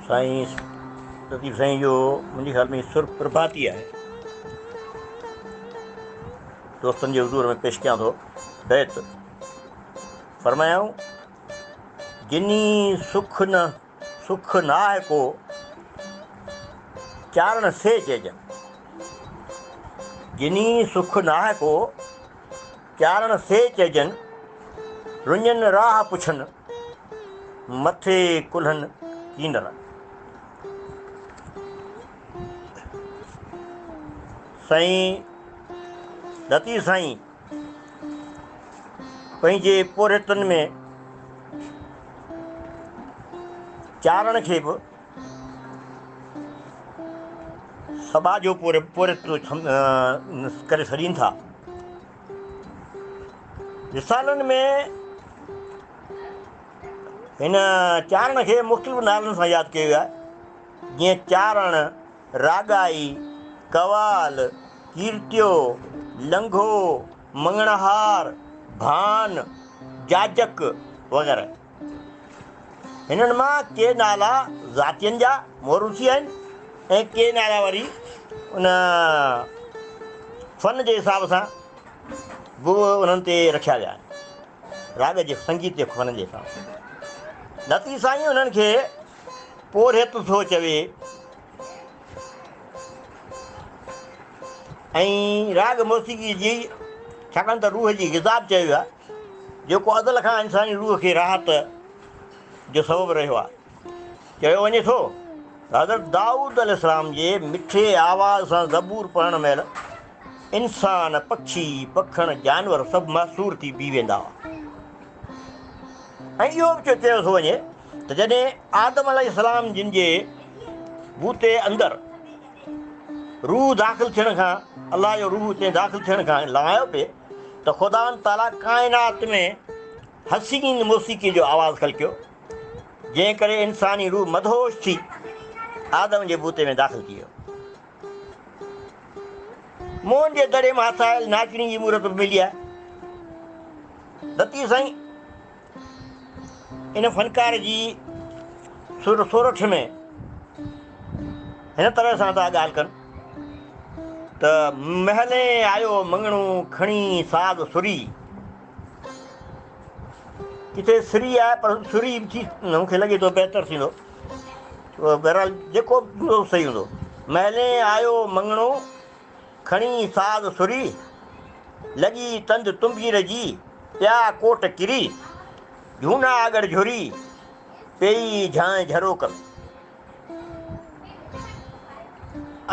سائين لطيف سائين جو منهنجي خيال ۾ سر پرڀاتي آهي دوستن جي حضور ۾ پيش ڪيان ٿو بيت فرمايائون جني سک نه سک نه آهي ڪو چارڻ سي چئجن جني سک نه آهي ڪو چارڻ سي چئجن، رڃن راهه پڇن، مٿي ڪلهن ڪينر. سائين لطيف سائين پنهنجي پورهيتن ۾ چارڻ کي به سٻاھ جو پوري پوري ڪري سڏين ٿا. رسالن ۾ هن چارڻ کي مختلف نالن سان ياد ڪيو ويو آهي، جيئن چارڻ، راڳائي، قوال، ڪيرتيو، لنگهو، مڱڻهار، ڀان، جاجڪ وغيره. هنن مان ڪي نالا ذاتين جا موروثي آهن ۽ ڪي نالا وري ان فن جي حساب سان به انهن تي رکيا ويا آهن. راڳ جي سنگيت جي فن جي حساب سان لطيف سائين انهن کي پورهيت ٿو چوي. ۽ راڳ موسيقي جي ڇاڪاڻ ته روح جي غذا به چيو ويو آهي جيڪو ازل کان انساني روح کي راحت جو سبب رهيو آهي. چيو وڃي ٿو ته حضرت دائود عليه السلام جي مٺي آواز سان زبور پڙهڻ مهل انسان، پکي، پکڻ، جانور سڀ محصور ٿي بيهي ويندا هئا ۽ اهو به چيو ٿو وڃي ته جڏهن آدم عليه السلام جن جي بوتي اندر روح داخل ٿيڻ کان الله جو روح اتي داخل ٿيڻ کان لنگايو پئي ته خداوند تعاليٰ ڪائنات ۾ حسين موسيقي جو آواز خلقيو جنهن ڪري انساني روح مدهوش ٿي آدم جي بوتي ۾ داخل ٿي ويو موهن جي دڙي مان هٿايل ناچڻي جي مورت به ملي آهي دتي سائين ان فنڪار جي سر سورٺ ۾ هن طرح سان ٿا ڳالهه ڪن ته محلي آيو مڱڻو کڻي ساز سري ڪٿي سري آهي پر سري ٿي مون کي لڳي ٿو بهتر ٿيندو بهرحال جيڪو صحيح هوندو محلي آيو مڱڻو کڻي ساز سري، لڳي تند تنبير جي، پيا ڪوٽ ڪري، جهونا آڳڙ جهري، پيئي جهانء جهروڪ ۾.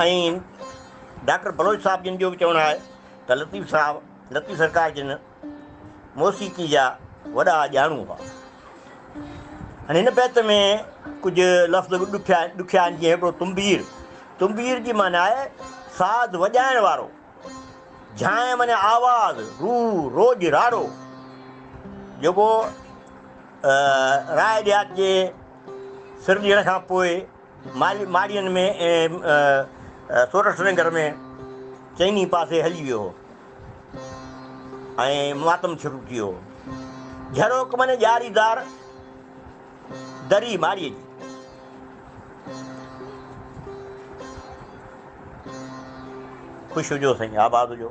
۽ ڊاڪٽر بلوچ صاحب جن جو به چوڻ آهي ته لطيف صاحب لطيف سرڪار جن. موسيقي جا وڏا ڄاڻو هئا. هن هن بيت ۾ ڪجهه لفظ به ڏکيا ڏکيا آهن جيئن هڪڙو تنبير، تنبير جي معنيٰ آهي ساز وڄائڻ وارو، جهانء معنيٰ آواز، روء، روڄ، راڙو، جيڪو راء ڏيهات جي سر ڏيڻ کان پوء ماڙيين ۾ ۽ سورٺ ننگر ۾ چئني پاسي هلي ويو هو ۽ ماتم شروع ٿي ويو هو. جهروڪ مني ڄاري دار دري ماڙيء جي. خوش هجو سائين آباد هجو.